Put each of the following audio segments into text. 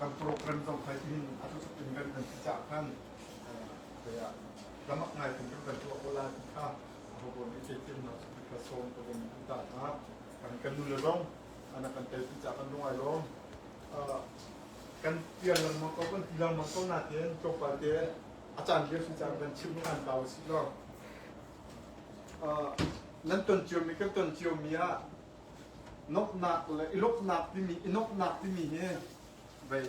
kan program zong kai in a tu in kan kan ti cha kan ya lamak ngai kan kan tu ko la ka ho bo ni che tin na ka som ko ni ta ha kan kan nu le zong ana kan tel ti cha kan ngai lo kan tial lang mo ko kan tilang mo ko na ten to pa te achan le su cha kan chim kan taw si lo nan ton cionmi kan ton ciomi ah nomhnak le i lawmhnak timi i nomhnak timi hi vei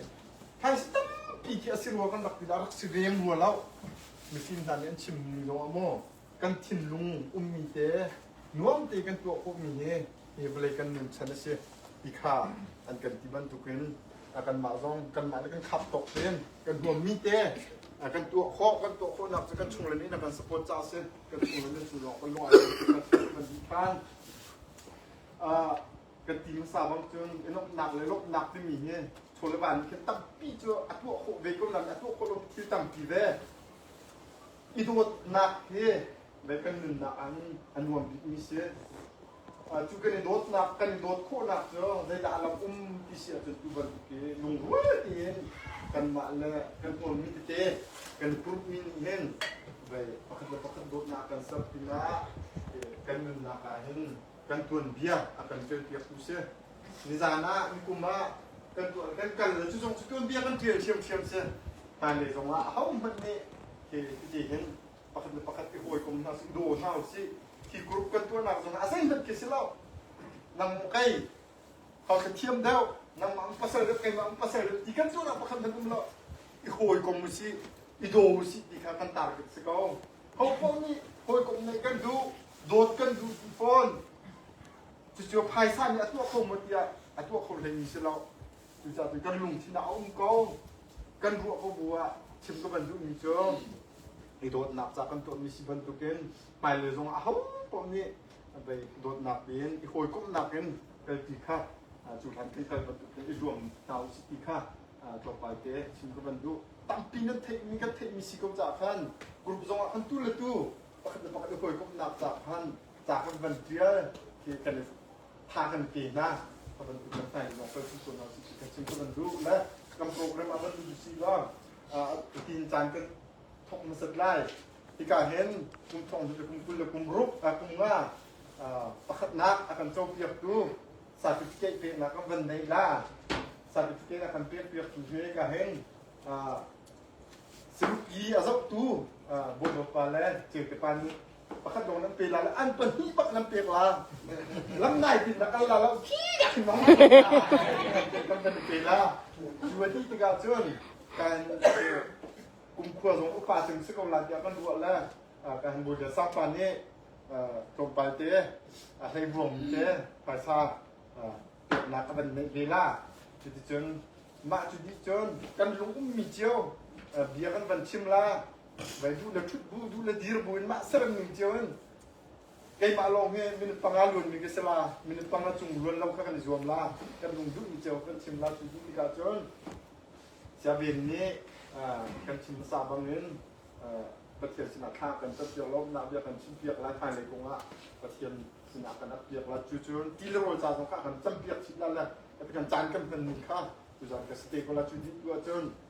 phaisa tampi khi a si rua kan rak ti dah rak si veng rua lo mifim hna nih an chim mi lo a maw kan thinlung ummi te nuam te kan tuah khawhmi hi hi vawlei kan nunchan a si ti kha an kan ti bantukin kanmah zong kanmah le kan khap tawk tein kan huammi te kan tuah khawh kan tuah khawhnak cu kan chunglen in a kan support ca a si kan chunglen in cu lawng kan lung ah kan di than kan ti hmasa bang cun lawmhnak le lawmhnak timi hi chole van khin tampi cu a tuah khawh ve ko nan a tuah khawh lo thil tampi ve i dawtnak hi vei kan nunnak an a nuam bikmi si cu kan i dawtnak kan i dawt khawhnak cu zeidah a lam um ti si ahcun tu bantuk hi lungrual tein kanmah le kan tonmi tete kan groupmi nih hin vei pakhat le pakhat dawtnak kan ser pinah kan nunnak ah hin kan tuanbia a kan ṭelpiaktu si nizan ah nikum ah kan tuan kan kal le cu zong cu tuanbia kan ṭial ṭhiamṭhiam si hmailei zong ah ahohmanh nih hi cuti hin pakhat le pakhat i hawikom hna sin daw hna u sih hi group kan tuahnak zong ah zeihmanh khi si lo nangmah kei hausa thiam deuh nangmah ang pasal deuh keimah ang pasal deuh ti kan tuahnak pakhat nan um lo i hawikom u si i daw u si ti kha kan target si ko hopoh nih hawikom neih kan duh dawt kan duh ti fawn cucu phaisa nih a tuah kho maw tiah a tuah kho hlei mi si lo Cucaah kan lungthin ah a um ko. Kan ruah ko bu ah chim ka van duhmi cu i dawtnak ca kan tuahmi si bantukin hmailei zong aho paoh nih dawtnak in i hawikomhnak in kal ti kha cu hlan kan kal bantukin i zuam hna u ti kha tlawmpal te chim ka van duh tampi nan theihmi kan theihmi si ko caah khan group zong ah khan tu le tu pakhat le pakhat i hawikomhnak ca khan ca kan van tial khi kan tha kan pe hna ka van u kan tai lawng kan si sual lo si kan sin ka van ru le kan program a van u si lo tin caan kan thok masat lai tika hen kum thong tu kum kul le kum ruk a kum nga pakhat nak akan co piak tu certificate pe na kan van nei la certificate akan pe piak tu ve ka hen sirup i a zok tu bolo pa le cete pan pakhat lawng nan pe la an pahnih bak nan pek la lam nai tin na kal la lo ki da khi ma kan kan pe la cu wa ti tikah cun kan kumkhua zong upa cing si ko la tiah kan ruah le kan bu le sang pa nih tlawmpal te a hlei buang te paisa nak a van nei ve la cuti cun mah cu di cun kan lung ummi cio bia kan van chim la Vai bu le thut bu bu le dir bu in mah seran ning cio in keimah lawng hi minute panga luan mi ka si la minute panga cung luan lo kha kan i zuam la kan lung duh mi cio kan chim la cu cu tikah cun Siaven nih kan chim hmasa bang in Pathian sinah thla kan tat piak lo nak bia kan chim piak la khai lei kong ah Pathian sinah kan ap piak la cu cun ti le rawl ca zong kha kan cam piak chip la le kan caan kan hman ning kha tu zan ka stay ko la cu dih tu cun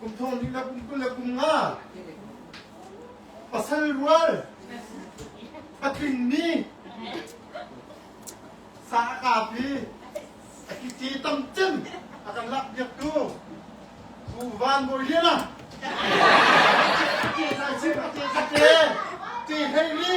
Kum thong ding le kum kul le kum nga pasal rual a tlingmi sa a kapi a kici tam cem a kan lak biak tu Pu Van Bawi Lian ah Te Sai Chin a Te Sa Te Te Hlei Li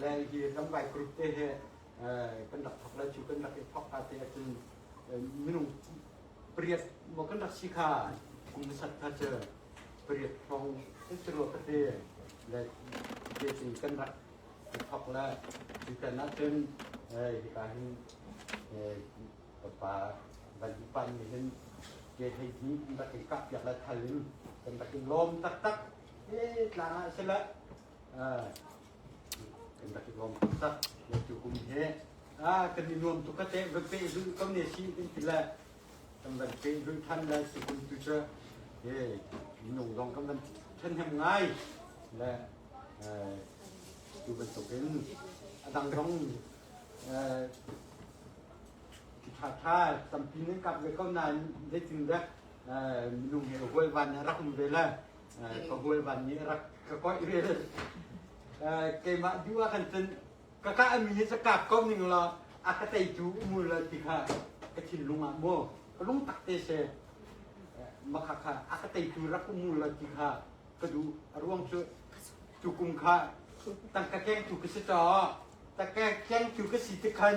le hi lambai krit te he kan rak thok le cu kan rak i thok ka te cun minung pariat mo kan rak si kha kum sat kha chu pariat phong te ro ka te le te cun kan rak i thok le cu kan ah cun hi ka hin papa van pan mi hin ke hei ni rak i kap piak le thal in kan rak in lom tak tak e tlang ah se la kan rak i lawm taktak na tu kum he kan i nuam tuk ka te van pe zun ko ne si din ti le kan van pe zun than le si kun tu che e minung dong kan van then hem ngai le tu ban tuk in adang dong ki tha tha tampi ne kap le ko na de tin da minung he hual van rak ve le ka hual van nih rak ka koih re keimah dua kan cun ka ka mi hi ka kom ning la a ka tei tu umul la ti kha ka thin lung ah mo ka lung tak te se maka kha a ka tei tu rak umul la ti kha ka du a ruang cu tu kum kha tang ka keng tu ka si to ta ka keng tu ka si te khan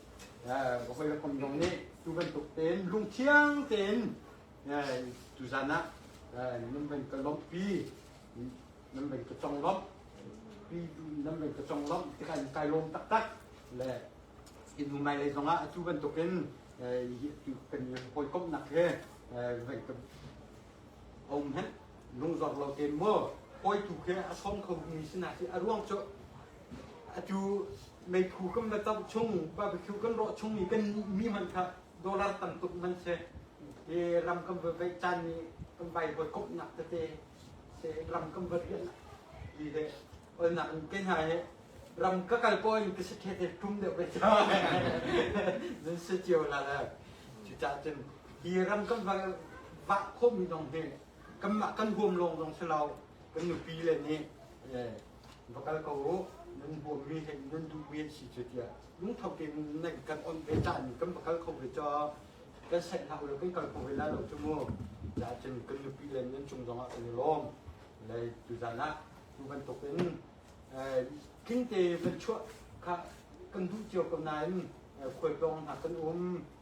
Ka hawi le kom zong nih tu bantuk tein lungthiang tein tuzan ah nan van ka lawmhpi nan van ka conglawmh pi nan van ka conglawmh tikah in kai lawm taktak le inu mai lei zong ah atu bantuk in tu kan hawikomhnak he vai ka om hen lungzor lo te mu hawi tu ke a som kho mi sinah hi a ruang cu Atu meikhu kan va tawh chung, barbecue kan rawh chung i kan mi hmanh kha dollar tam tuk hmanh si hi ram kan va vaih caan ni kan vai voi kop nak tete se ram kan va rian di le ol nak ke hna he ram ka kal po in ka se the te tum de ve ta nan se chiêu la la chu cha chun hi ram kan va va khom mi dong he kan ma kan huam long dong se lau kan nu pi le ni Va kal ko uh, nan bawmmi hi nan duhmi an si cu tiah lungtho tein nan kan onh ve caan kan va kal kho ve cu kan saih hna ulaw kan kal kho ve la lo cu mu ahcun kan nupi le nan cung zongah kan i lawm lei tuzan ah tu bantuk in king te van chuah kha kan duh cio ko nain khualtlawng hna kan um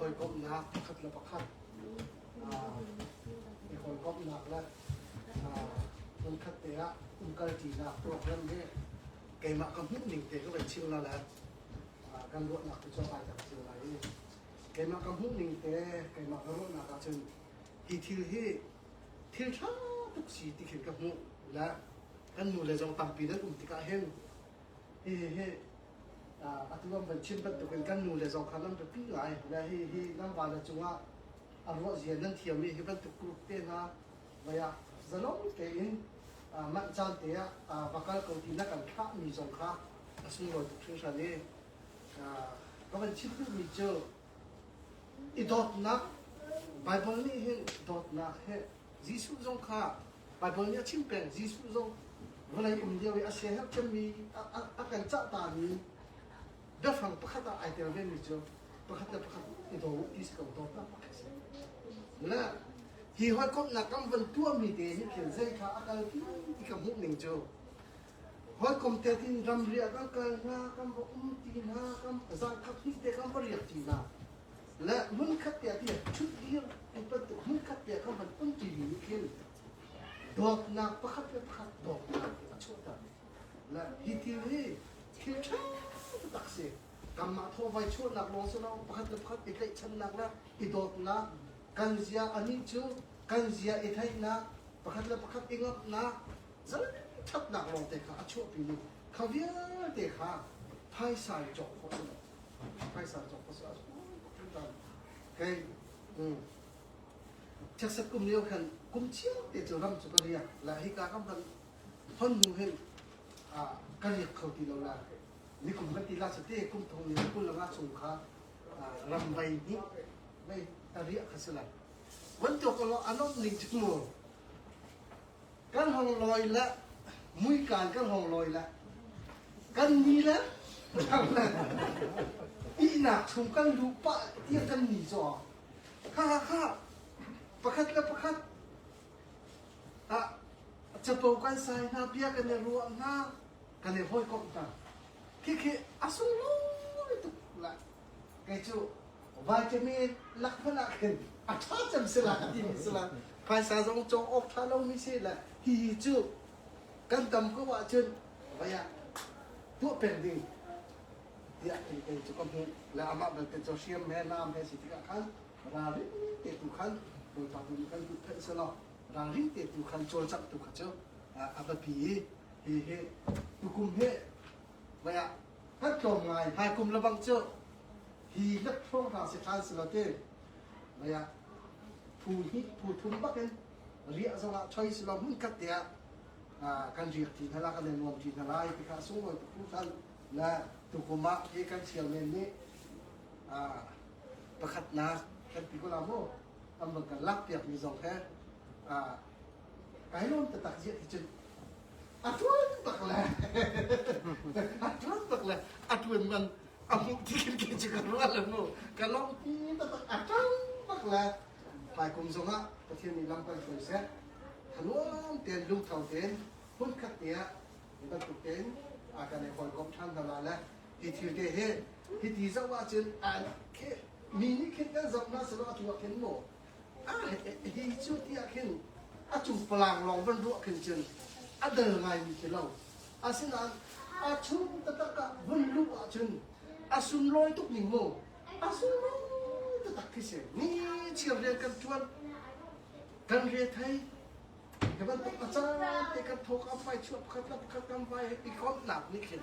hawikomhnak pakhat le pakhat i hawikomhnak le hmunkhatte ah umkalṭinak program hi keimah ka hmuhning te ka vai chim na le kan ruahnak te cu a kai tak cio lai i keimah ka hmuhning te keimah ka ruahnak ah cun hi thil hi thil ṭha tuk si ti khin ka hmuh le kan nu le zong tampi nan um tikah hin hihi atu kan van chim bantukin kan nu le zong kha nan biapi ngai le hihi nan vana cungah a ruahzia nan thiammi hi bantuk group te hna vaya zalong tein manh caan te ah va kal ko ti na kan thahmi zong kha a sunglawi tuk hringhran i ka van chim duhmi cu I dawtnak Baibal nih hin dawtnak hi Jesuh zong kha Baibal nih a chim peng Jesuh zong vawlei um lio i a siaherh cemmi a kan cahtami biafang pakhat ah ai tel vemi cu pakhat le pakhat i do i si ko dawtnak a si. Le hi hawikomhnak kan van tuahmi te hi thil zei kha a kal ti i ka hmuh ning cu Hawikom te in ramri ah kan kal hna, kan va um ti hna, kan zangthap hnih te kan va riak ti hna. Le hmunkhat te ah ti ṭhut dir ti bantuk hmunkhat te kan van um ti mi nih khin dawtnak pakhat le pakhat dawtnak a chuahter. Le hi thil hi thil ṭha tak si. Kanmah thawhvai chuahnak lawng si lo, pakhat le pakhat i tlaihchannak le i dawtnak kan zia anih cu kan zia i theihnak pakhat le pakhat i ngamhnak Zeithatnak lawngte kha a chuahpimi kha vialte kha phaisa i cawk khawh cu phaisa cawk khawh a zung Kei Cheset kum lio khan kum te cu ram cu ka riak la hi ka kam kan hon nu hin ka riak kho ti lo la ni kum kan ti la su te kum thong ni kul langa chung kha ram vai ni vai ta riak kha si la wan to ko lo anom ning chu mu kan hong lawi le muika kan hong lawi le kan ni le thang le ihnak chung kan lu pah tiah kan ni caw kha kha pakhat le pakhat ah capo kan sai hna bia kan i ruah hna kan i hoi komh hna khi khi a sunglawi tuk la kei cu vitamin lak hmanh ah khin a ṭha cem si la ti mi si la phaisa zong cawng awk ṭha lo mi si la hihi cu kan tam ko ah cun vaya tuah peng ding tiah ti kei cu ka hmuh le amah belte cu hriam he nam he si tikah khan ralri te tu khan Bawipa tu kan duh phenh si lo ralri te tu khan cawlcangh tu kha cu a biapi hi hi hi tukum he vaya an tlawm ngai hna kum le bang cu hi hlat hrawng hna si than si lo te mei ah phu hnih phu thum bak in riah zong ah choi si lo mun kat te ah kan riak ti hna la kan nuam ti hna lai ti ka sunglawi tu phu than na tukum ah ke kan chairman nih pakhatnak kan ti ko la mu an bang kan lak piak mi zong he Kai lawm taktak ziah ti cun a tuan tak le a tuan tak le a tuan man a mu ti kan ke cu ka rual le mu ka lawm pi taktak a tuan tak le pai kum zong ah Pathian nih lam kan hruai seh thaluam ten lungtho ten hmun khat ni ah ni bantuk ten a kan i hawikom than hna la le hi thil te he hi ti zoh ahcun an ke mi nih khin kan zoh na salo atu ah khin maw Hi cu ti ah khin a cung palang lawng van ruah khin cun a dal ngaimi khi lo. Asinain a chung taktak ah vun luh ah cun a sunlawi tuk ning mu a sunlawi taktak khi si ni chiar rian kan tuan kan re thei ke bantuk a caan te kan thawk a fai chuah pakhat la pakhat kan vai i komhnak nih khin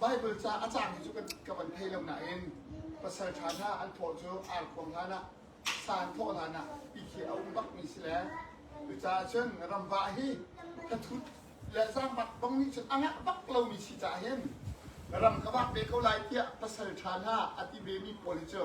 Baibal ca a cangmi cu ka van thei lo nain pasal ṭha hna an thawh cu ar khuang hlanah san thawh hlanah ti khi a um bakmi si le cucaah cun ramvah hi ka thut le zaangmak bang nih cun a ngah bak lomi si caah hin ram ka vak ve ko lai tiah pasal ṭha hna a ti vemi pawl hi cu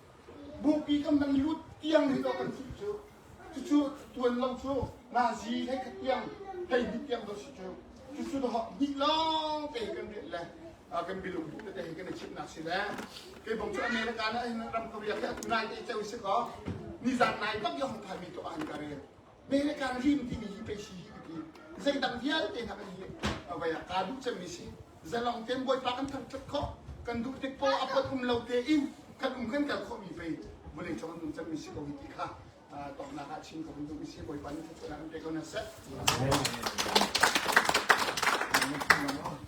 Bupi kan van lut tiang hi kan chimh cu. Cucu tuan lo cu Nazi le ka tiang hei hnih tiang va si cu. Cucu dahok hnih lawng te kan riat le kan bilung bu te hi kan i chimnak si le kei bong cu America na ram ka riak hi a tunai te i ceu si ko nizan nai bak yong thami to an ka rel me le kan rim timi hi pei si hi ka ti zeidang vialte hna kan hi vai a ka duh cemmi si zalong ten bawipa kan thang tat khawh kan duh tik po a pot um lo te in kan um kan kal khawh mi pei vulei cong duh cemmi si ko hi ti kha tongnak ah chin ko duh mi si bawipa nih thutnak kan pe ko na set Amen.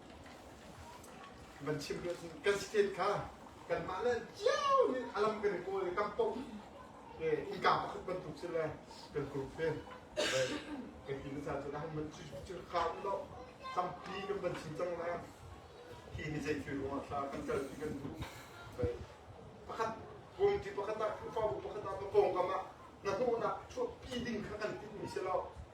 Kan chim hlun kan state kha kanmah le cio nih a lam kan i kawl i kan pom i kaa pakhat bantuk si le kan group ve kan ti na caan cu han man cu cu kha law tampi kan van chim cang le hi ni zei thil ruangah thla kan kal ti kan duh pakhat kungti pakhat ah khrihfabu pakhat ah na kongkam ah na hnawhnak chuahpi ding kha kan timmi si lo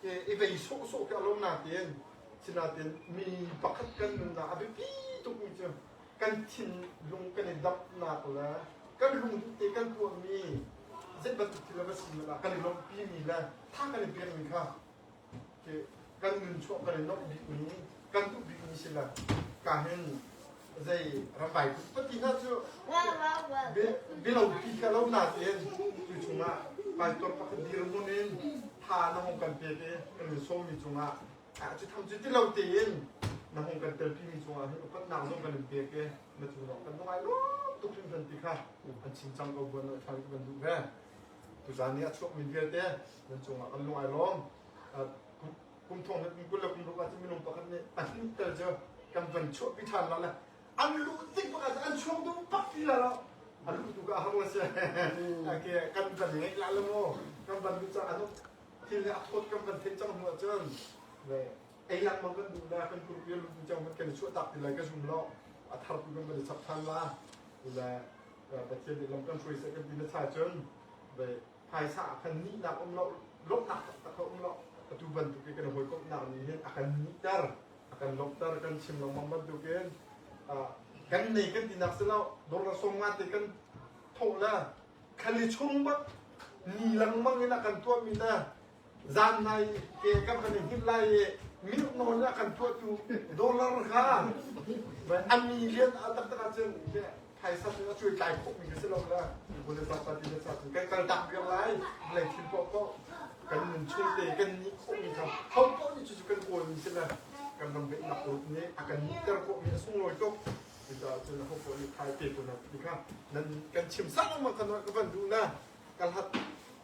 ke i vei sawhsawh ka lo nain sinain mi pakhat kan nunnak a biapi tukmi cu kan thinlung kan i damnak le kan lungduk te kan tuahmi zei bantuk thil va si lah kan i lawmhpimi le tha kan i pekmi kha kan nun chuah kan i nawmh bikmi kan duh bikmi si lo ka hin zei ramvai pati hna cu bilopi ka lo natein tu chungah paitor pakhat dir mun in tha na hong kan pe ke kan min somi chungah a ci tham ci ti lo tein na hong kan tel pimi chungah hin upat nang zong kan in pe ke na chung zong kan ngai lo tuk hrim kan ti kha an chin chang ko buan lo than kan duh ve tu zan ni a chuak min vialte nan chungah kan lung ai lom kum thong hlat kum kul le kum ruk ah cun minung pakhat nih a hnin tal cu kan van chuahpi ṭhan lah le an luh tik pakhat cu an chuang tung pak ti lah lo a luh tu ka a hang si ake kan van ngeih lah lo maw kan van luh cang anu thil ne a phot kan van thenh cang hnu cun ei lang mang kan duh le kan kurpi lu tu chang kan chuah tak ti lai ka zum lo a thar tu kan van chap than la le pathian lam kan hruai se kan ti na cha cun phaisa a kan nihnak um lo lawmhnak taktak a um lo atu bantuk i kan hawikomhnak nih hin a kan nihter a kan lawmhter kan chim lengmang bantuk in kan nei kan tinak si lo dollar song nga te kan thawh le kan i chung bak ni langmang in a kan tuahmi na zan lai ke kan kan hngilh lai i milk nawl a kan tuahtu dollar kha an million a taktak ahcun phaisa cu a cuai tlai khawhmi ka si lo le kule zapa ti le satu kan kan tah viar lai lei thil poh poh kan nun chuite kan ni khawhmi kha ho poh nih cucu kan kawlmi si le kan ram beih nak ruk nih a kan ter khawhmi a sunglawi tuk cucaah cun ho poh nih thai te kun ti kha nan kan chim sama kan ka van duh na ka hlat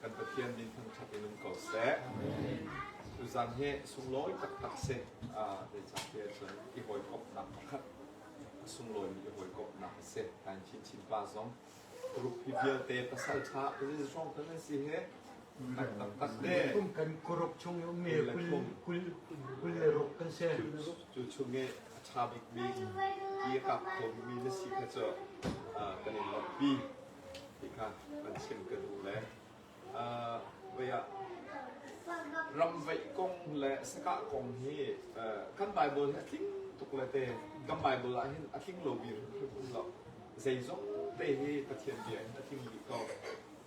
kan Pathian min thangṭhat in um ko seh. Tuzan hi sunglawi taktak si, zeicahtiah cun i hawikomhnak pakhat, a sunglawimi i hawikomhnak a si. Kan chinchin pa zong group hi vialte pasal ṭha rin hrawng kan an si he, kan taktak te. Kum kan kuruk chung i ummi kul kul le ruk kan si. Cu chung i a ṭha bikmi, i a kap khomi na si kha cu kan in lawmhpi. ti kha an chim ka duh le voi ah ramveih kong le sakah kong hi kan Bible hi a tling tuk le te kan Bible ah hin a tling lo bi hrim um lo zeizong te hi Pathian bia in a tling rih ko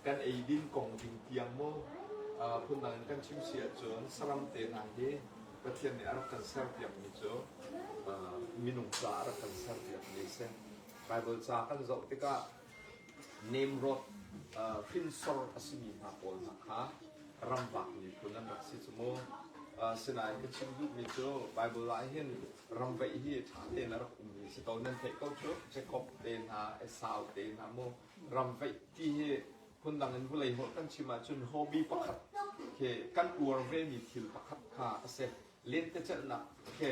kan eidin kong ding tiang mo phundang in kan chim si ahcun saram te hna hi Pathian nih a rak kan ser piak mi cu minung ca a rak kan ser piak mi a si Baibal ca kan zoh tikah nemrawt hrinsor a simi hna pawl hna kha ramvak miphun an rak si cu mu. Asinain ka chim duhmi cu Baibal ah hin ramveih hi ṭha tein a rak ummi si ko nan theih ko cu Jakob te hna Esau te hna mu ramveih ti hi phundang in vawlei holh kan chim ahcun hobby pakhat khi kan uar vemi thil pakhat kha a si lentecelhnak khi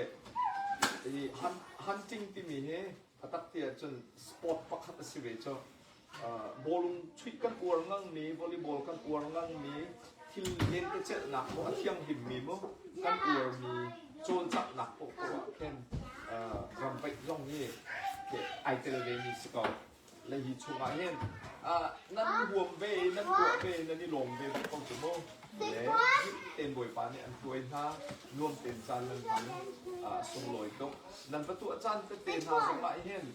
hunting timi hi a tak ti ahcun sport pakhat a si ve cu bawlung chuih kan uar nganmi volleyball kan uar nganmi thil lentecelhnak maw a thianghlimmi maw kan uarmi cawlcanghnak paoh paoh ah khin ramvaih zong hi ai tel ve mi si ko nan huam ve, nan tuah ve, nan i lawm ve ve ko cu mu. Le ding tein Bawipa nih an tuai hna, nuam tein caan nan hman, sunglawi tuk. Nan va tuah caan tete hna zongah hin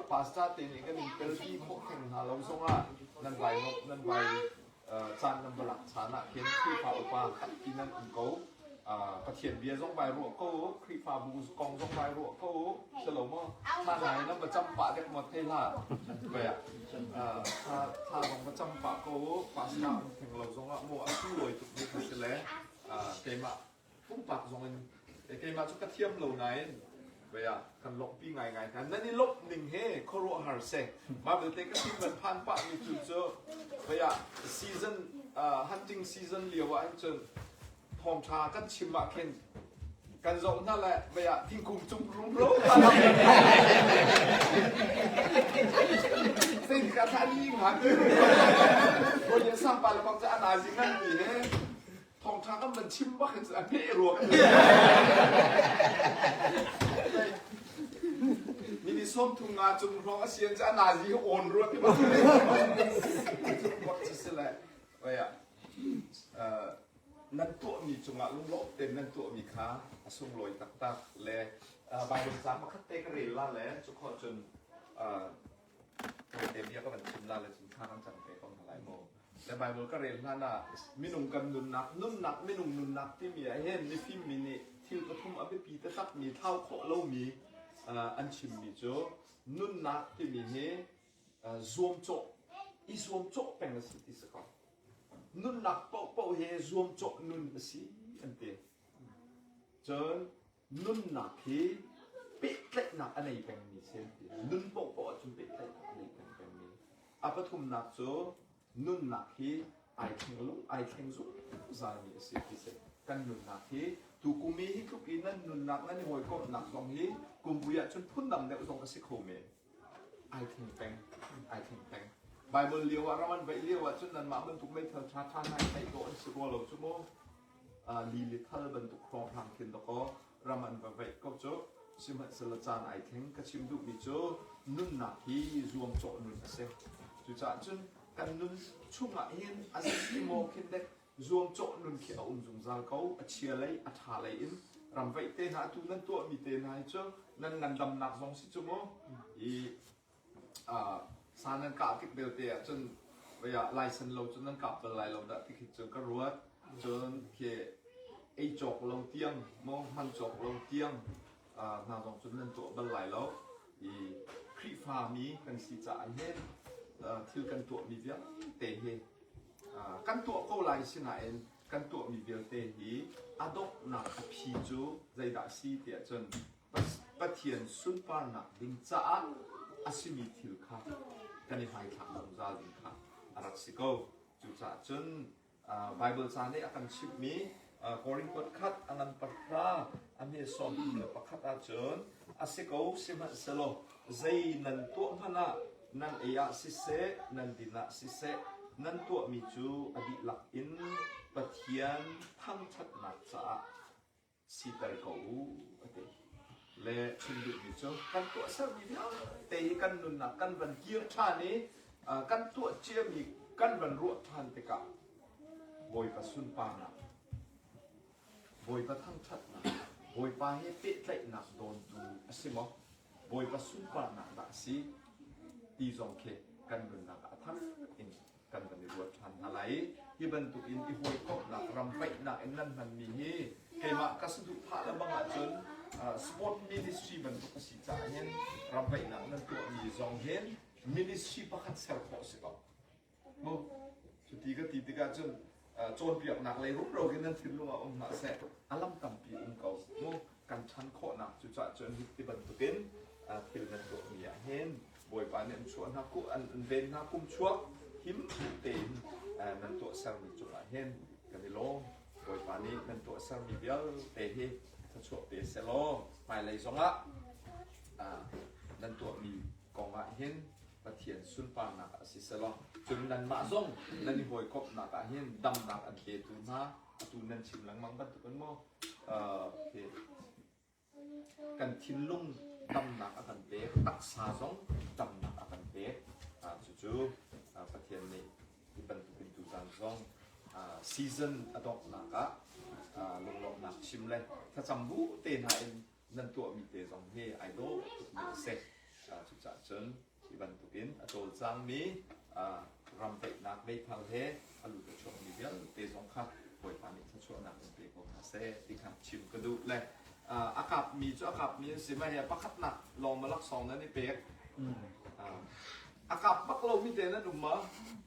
pastor tein kan in tel pi khawh theng hna lo zongah nan vai, nan vai caan nan va lak caan ah hin Khrihfa upa khatpi nan um ko. Pathian bia zong bai ruah ko, Khrihfabu kong zong bai ruah ko, si lo maw? Thla nai nan va cam pah dek mot te hla. Vaya. Thla thla zong va cam pah ko, pastor theng lo zong ah mo a tu loi tuk ni ka si le, keimah pumpak zong in keimah cu ka thiam lo nain vei ah kan lawmhpi ngaingai hna nan i lawmh ning he khuaruahhar seh mah vialte ka sin van phan pah mi cu cu vei ah season uh, hunting season lio ah hin cun thawngtha kan chim ah khin kan zoh hna le vei ah thingkung cung rumro Tinh cả thani ngạc Ôi điện sang bà là con sẽ ăn ai dính ăn gì hết Thawngṭha kan van chim bak hin a hmeh rua Mi nih sawmthum nga cung hrawng a sian cu a nazi he awn rua ti bak cu si le. Oya. Nan tuahmi cungah lunglawm tein nan tuahmi kha a sunglawi taktak le Baibal ca pakhat te ka rel la le cu kho cun Tawite bia ka van chim la le cu hna kan cang ve ko hna lai maw? Le Baibal ka rel hlan ah minung kan nunnak, nunnak, minung nunnak timi ah hin mifim mi nih thil pathum a biapi taktakmi thlau khawh lomi an chimmi cu nunnak timi hi zuamcawh i zuamcawh peng a si ti si ko. Nunnak paohpaoh hi zuamcawh nun a si an ti. Cun nunnak hi pehtlaihnak a nei pengmi si an ti. Nun paohpaoh ahcun pehtlaihnak a nei peng pengmi. A pathumnak cu nunnak hi ai thleng lung ai thleng zungzalmi a si ti si. Kan nunnak hi tu kumi hi tluk in nan nunnak nan i hawikomhnak zong hi kum vui ahcun phundang deuh zong a si kho men. ai thleng peng, ai thleng peng. Bible lio ah ram an vaih lio ahcun nanmah bantuk meithal ṭhaṭha hna hi theih dawh an si rua lo cu mu. Uh, li li thal bantuk hrawng hang khin dakaw ram an va vaih ko cu. Sihmanhsehlaw caan ai thleng ka chim duhmi cu nunnak hi zuamcawh nun a si. Cucaah cun kan nun chungah hin a si maw khin dek zuamcawh nun khi a um zungzal ko. A chia lei, a ṭha lei in ramvaih te hna, atu nan tuahmi te hna hi cu nan ngandamnak zong si cu mu. I uh, sa nan kah tik belte ah cun vaya license lo cu nan kap bal lai lo dah ti khi cu ka ruat. Cun khi ei cawk lo tiang, mong hman cawk lo tiang hna zong cun nan tuah bal lai lo i Khrihfami kan si caah hin thil kan tuahmi vialte hi kan tuah ko lai sinain kan tuahmi vialte hi a donghnak a phi cu zeidah a si tiah cun Pathian sunparnak ding caah a simi thil kha kan i hmaithlak zungzal ding kha a rak si ko. Cucaah cun Baibal ca nih a kan chimhmi Korinth khat a nganper hna a nehsawmtu le pakhat ahcun a si ko sihmanhsehlaw zei nan tuah hmanh ah nan ei ah siseh nan din ah siseh nan tuahmi cu a dihlak in Pathian thangṭhatnak caah siter ko u a ti. Le chim duhmi cu kan tuahsermi vialte hi kan nunnak kan van kir ṭhan i kan tuah ciami kan van ruah ṭhan tikah Bawipa sunparnak, Bawipa thangṭhatnak, Bawipa he pehtlaihnak dawntu a si maw? Bawipa sunparnak dah a si? ti zong khi kan nunnak ah a thang in kan van i ruat ṭhan hna lai. Hi bantukin i hawikomhnak ram paihnak in nan hmanmi hi keimah ka saduhthah le bang ahcun Sport Ministry bantuk a si caah hin ram paihnak nan tuahmi zong hi ministry pakhat ser khawh a si ko mu. Cuti ka ti tikah cun cawnpiaknak lei rumro in nan thinlung ah um hlah seh, a lam tampi um ko mu. kan ṭhan khawhnak cucah cun hi bantukin thil nan tuahmi ah hin Bawipa nih an chuah hna an ven hna kum chuak him tein nan tuahsermi cungah hin kan i lawm. Bawipa nih nan tuahsermi vialte hi thluachuah pe seh law hmailei zongah nan tuahmi kongah hin Pathian sunparnak a si selaw cun nanmah zong nan i hawikomhnak ah hin damnak an petu hna atu nan chim lengmang bantukin maw kan thinlung tamnak a kan pek, taksa zong tamnak a kan pek. Cucu Pathian nih hi bantukin tuzan zong season a donghnak ah lunglawmhnak chim le thlacam bu te hna in nan tuahmi te zong hi ai dawh tukmi a si. Cucaah cun hi bantukin a cawlcangmi ram daihnak leithal he a lut a chuakmi vialte zong kha Bawipa nih thluachuahnak in pe ko hna seh ti kha chim ka duh le a kapmi cu a kapmi an si mai a pakhatnak lawng malaksawng nan i pek a kap bak lomi te nan um ma